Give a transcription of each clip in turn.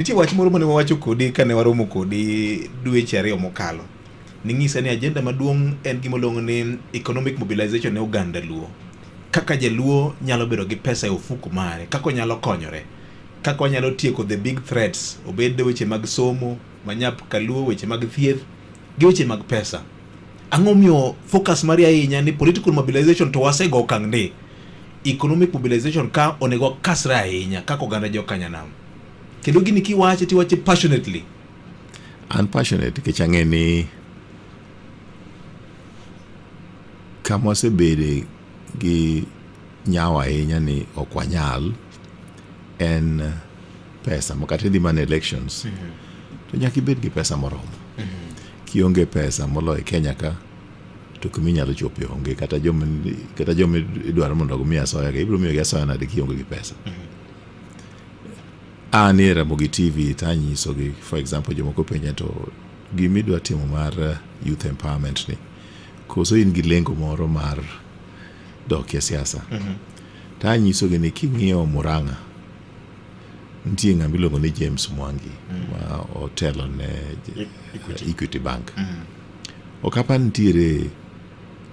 Nitie wach moro mane wawacho kodi kane waromo kodi dweche ariyo mokalo. Ning'isa ni ajenda maduong' en gima oluongo ni economic mobilization ne oganda Luo. Kaka jaluo nyalo bedo gi pesa e ofuku mare, kaka onyalo konyore, kaka onyalo tieko the big threats, obed weche mag somo, manyap kaluo, weche mag thieth, gi weche mag pesa. Ang'o miyo focus mari ahinya ni political mobilization to wasego okang' ni economic mobilization ka onego kasre ahinya kaka oganda jo Kanyanam? Kendo gini kiwache tiwache passionately. An passionate nikech ang'e ni kama wasebede gi nyawo ahinya ni ok wanyal en pesa makata idhi mana elections mm -hmm. to nyaka ibed gi pesa moromo mm -hmm. kionge pesa moloyo Kenya ka to kuma inyalo chope onge kata joma idwaro mondo omi asoya ka ibiro miyogi asoya nade kionge gi pesa mm -hmm. An e Ramogi TV to anyisogi for example jomoko penja to gima idwa timo mar eh, youth empowerment ni koso in gi lengo moro mar dok e siasa mm -hmm. to anyisogi ni king'iyo Murang'a nitie ng'ama iluongo ni James Mwangi mm -hmm. ma otelo ne Equity, Equity Bank mm -hmm. ok apa nitiere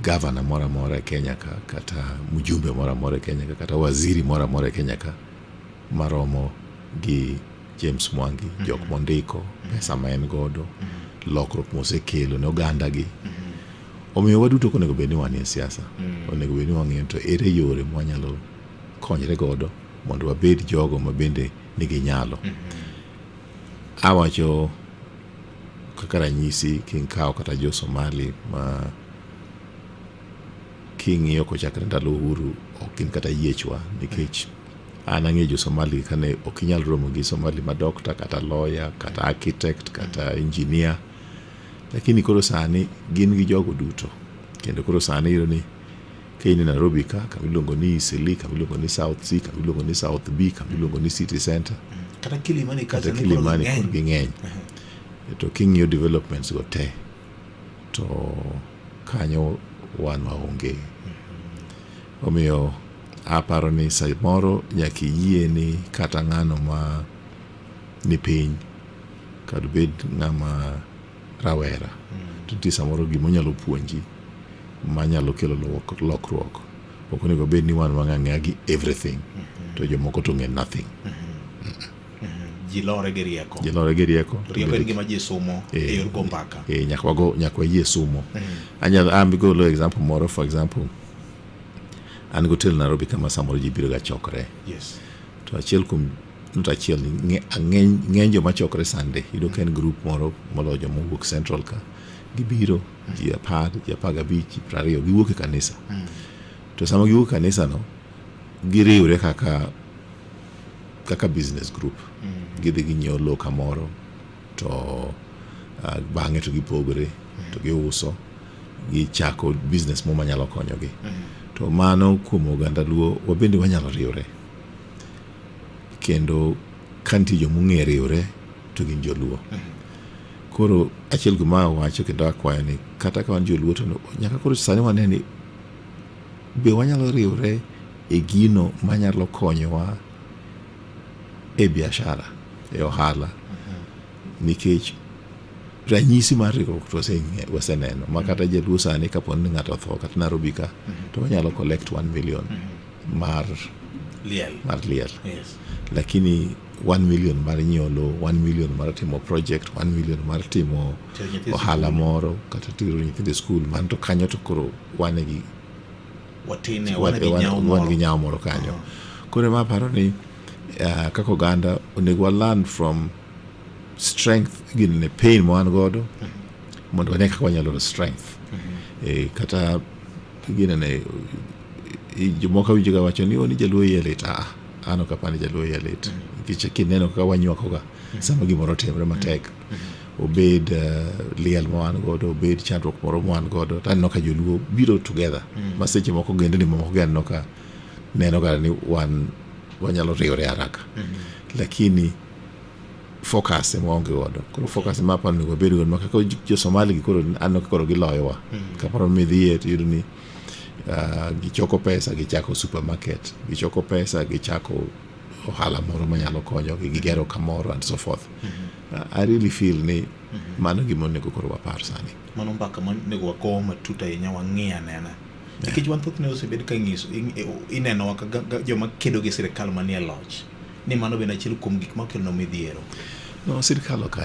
gavana moro amora e Kenya ka kata mjumbe moro amora e Kenya ka kata waziri moro amora e Kenya ka maromo gi James Mwangi, mm -hmm. jok mondiko, mm -hmm. pesa ma en godo, mm -hmm. lokruok mosekelo ne oganda gi. Mm -hmm. Omiyo waduto ok onego bed ni wanie siasa. Mm -hmm. Onego bed ni wang'eyo to ere yore ma wanyalo konyre godo mondo wabed jogo ma bende nigi nyalo. Mm -hmm. Awacho Kaka ranyisi king'kawo kata jo Somali ma king'iyo kochakre ndalo uhuru ok gin kata yiechwa nikech an ang'eyo jo Somali kane ok inyal romo gi Somali ma dokta kata lawyer kata architect kata engineer lakini koro sani gin gi jogo duto kendo koro sani iyudo ni Kiny ni Nairobi ka, kama iluongo ni Eastleigh, kama iluongo ni South C, kama iluongo ni South B, kama iluongo ni City Center. Kata Kilimani kacha kata Kilimani kod ging'eny. To king'iyo developments go te to kanyo wan waonge. Omiyo aparo ni samoro nyaka iyie ni kata ng'ano ma ni piny kar bed ng'ama rawera mm. to nitie samoro gima onyalo puonji manyalo kelo lokruok ok onego bed ni wan wang'a ng'eya gi everything mm-hmm. to jomoko to ng'e nothing mm-hmm. Mm-hmm. ji lore gi rieko ji lore gi rieko rieko en gima ji somo e eh, yor go mbaka e nyaka wago nyaka wayie somo anyalo am ah, go lo example moro for example an go tel Nairobi kama samoro ji biro ga chokre yes to achiel kuom nut achiel ni ng'eny joma chokre Sunday yudo ka en grup moro moloyo joma owuok Central ka gibiro ji apar ji apar gabich ji piero ariyo giwuok e kanisa mm. to sama giwuok e kanisa no giriwre kaka kaka business group mm. gidhi ginyiewo lowo kamoro to uh, bang'e to gipogore mm. to giuso gichako business mo manyalo konyogi to mano kuom oganda luo wabende wanyalo riwre kendo ka nitie joma ong'eyo riwre to gin joluo. Koro achiel kuom ma awacho kendo akwayo ni kata ka wan joluo to nyaka koro sani wane ni be wanyalo riwre e gino manyalo konyowa e biashara, e ohala nikech ranyisi mar riwruok to waseng'e- waseneno ma kata jaluo sani kaponi ng'ato otho kata Narobi ka to wanyalo collect one million mar liel mar liel yes lakini 1 million mar nyiewo lowo 1 million mar timo project 1 million mar timo Tero nyithi ohala moro kata tero nyithindo e skul man to kanyo to koro wane gi watine wan wan gi nyawo wan- wan moro gi nyawo moro kanyo koro ema aparo ni ah, kaka oganda onego wa learn from strength gin ne pain ma wan godo mondo wane kaka wanyalo yudo strength Eh, kata Ginene jomoko awinjo ga wacho ni ni jaluo iye lit ah an ok apani jaluo iye lit nikech kineno kaka wanywakoga sama gimoro otimre matek obed uh, liel ma wan godo obed chandruok moro ma wan godo to aneno ka joluo biro together ma seche moko gendni mamoko gi aneno ka neno ga ni wan wanyalo riwore haraka lakini focus ema waonge godo koro focus ma aparo onego wabed godo ma kaka jo Somali gi koro aneno ka koro giloyowa mm. kaparo midhiye to iyudo ni uh, gichoko pesa gichako supermarket gichoko pesa gichako ohala moro manyalo konyogi gigero kamoro and so forth mm -hmm. uh, I really feel ni mm -hmm. mano gima onego koro wapar sani mano mbaka monego wago matut ahinya wang'i anena Nikech wan thothne osebed ka ng'iso inenowa kaka joma kedo gi sirkal manie loch ni mano bende achiel kuom gik makelonwa midhiero. No, sirkal ok